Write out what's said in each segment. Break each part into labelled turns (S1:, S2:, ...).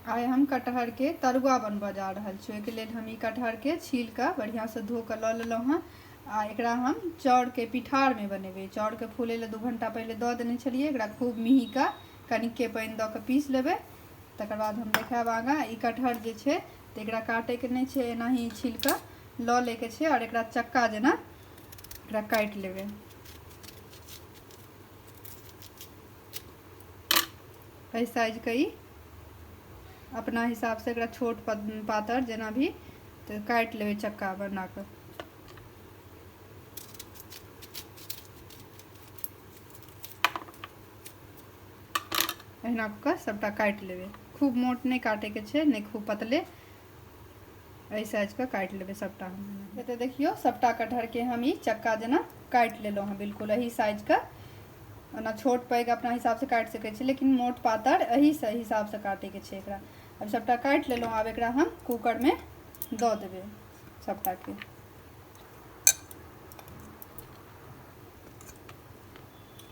S1: आइ हम कटहरके तरुआ बनबऽ जा रहल छी ओहिके लेल हम ई कटहरके छील कऽ बढ़िआँसँ धो कऽ लऽ लेलहुँ हँ आ एकरा हम चाउरके पिठारमे बनेबै चाउरके फूलै लए दू घंटा पहिले दऽ देने छलियै एकरा खूब मिही कऽ कनिके पानि दऽ कऽ पीस लेबै तकर बाद हम देखायब आगाँ ई कटहर जे छै तऽ एकरा काटैके नहि छै एनाही छील कऽ लऽ लैके छै आओर एकरा चक्का जेना एकरा काटि लेबै एहि साइजके ई अपना हिसाबसँ एकरा छोट पातर जेना भी तऽ काटि लेबै चक्का बना कऽ अहिना कऽ सभटा काटि लेबै खूब मोट नहि काटैके छै नहि खूब पतले एहि साइजके काटि लेबै सभटा हम एतऽ देखियौ सभटा कटहरके हम ई चक्का जेना काटि लेलहुँ हँ बिल्कुल एहि साइजके ओना छोट पैघ अपना हिसाबसँ काटि सकै छी लेकिन मोट पातर एहि हिसाबसँ काटैके छै एकरा आब सभटा काटि लेलहुँ आब एकरा हम कूकरमे दऽ देबै सभटाके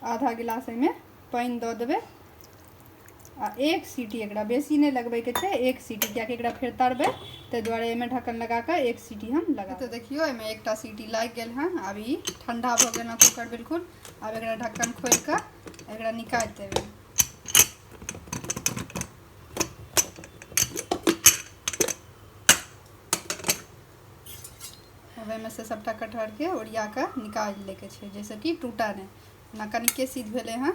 S1: आधा गिलास एहिमे पानि दऽ देबै आ एक सीटी एकरा बेसी नहि लगबैके छै एक सीटी किएकि एकरा फेर तरबै ताहि दुआरे एहिमे ढक्कन लगा कऽ एक सीटी हम लगा तऽ देखियौ एहिमे एकटा सीटी लागि गेल हँ आब ई ठण्डा भऽ गेल हँ कुकर बिल्कुल आब एकरा ढक्कन खोलि कऽ एकरा निकालि देबै ओहिमे से सभटा कटहरके ओरिया कऽ निकालि लैके छै जाहिसँ कि टूटा नहि ना कनिके सिद्ध भेले हैं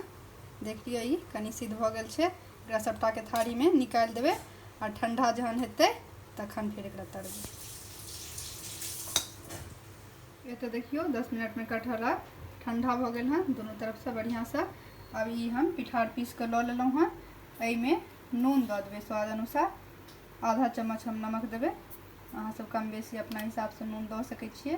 S1: देख लियो ई कनि सिद्ध भऽ गेल छै एकरा सबटा के थारी में निकाल देबे और ठंडा जहन हेतै तखन फिर एकरा तरबे ये तो देखियो दस मिनट में कटहरा ठंडा भऽ गेल हैं दोनों तरफ से बढ़िया से अब ई हम पिठार पीस के लऽ लेलहुँ हैं एहि में नून दऽ देबे स्वाद अनुसार आधा चम्मच हम नमक देबे अहाँ सब कम बेसी अपना हिसाब से नून दऽ सकै छियै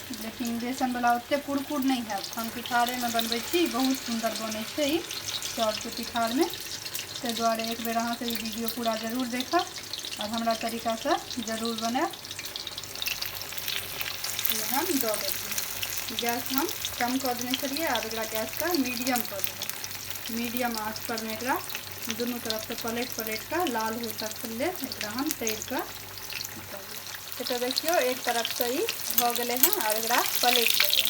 S1: लेकिन बेसनवला ओतेक कुरकुर नहि हैत हम पिठारेमे बनबै छी बहुत सुन्दर बनै छै ई चाउरके पिठारमे ताहि दुआरे एक बेर अहाँसभ ई वीडियो पूरा जरूर देखब आओर हमरा तरीकासँ जरूर बनायब हम दऽ देलियै गैस हम कम कऽ देने छलियै आब एकरा गैसके मीडियम कऽ देबै मीडियम आँचपर मे एकरा दुनू तरफसँ पलटि पलटि कऽ लाल होइ तक लेल एकरा हम तरि कऽ से तऽ देखियौ एक तरफसँ ई भऽ गेलै हँ आओर एकरा पलटि देबै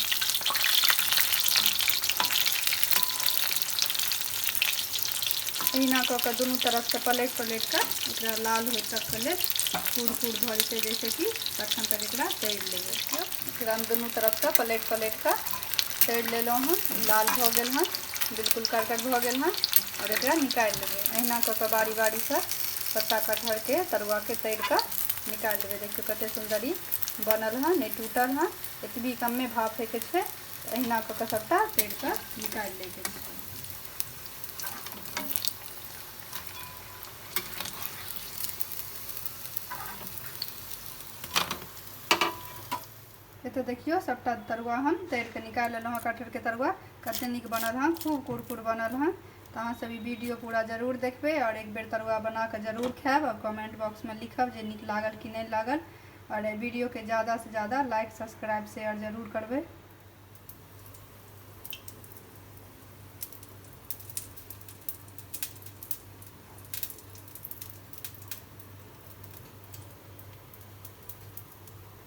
S1: एहिना कऽ कऽ दुनू तरफसँ पलटि पलटि कऽ एकरा लाल होइ तकके लेल कूर कूर भऽ जेतै जैसे कि तखन तक एकरा तरि लेबै एकरा हम दुनू तरफसँ पलटि पलटि कऽ तरि लेलहुँ हँ लाल भऽ गेल हँ बिल्कुल करकर भऽ गेल हँ आओर एकरा निकालि लेबै अहिना कऽ कऽ बारी बारीसँ पत्ता कटहरके तरुआके तरि कऽ निकालि लेबै देखियौ कतेक सुन्दर ई बनल हँ नहि टूटल हँ एतबी कमे भाप होइके छै अहिना कऽ कऽ सभटा तरि कऽ निकालि लैके छै एतऽ देखियौ सभटा तरुआ हम तरि कऽ निकालि लेलहुँ हँ कटहरके तरुआ कतेक नीक बनल हँ खूब कुरकुर बनल हँ तऽ अहाँसभ ई वीडियो पूरा जरूर देखबै आओर एक बेर तरुआ बना कऽ जरूर खायब आओर कमेंट बॉक्समे लिखब जे नीक लागल कि नहि लागल आओर एहि वीडियोके ज्यादासँ ज्यादा लाइक सब्सक्राइब शेयर जरूर करबै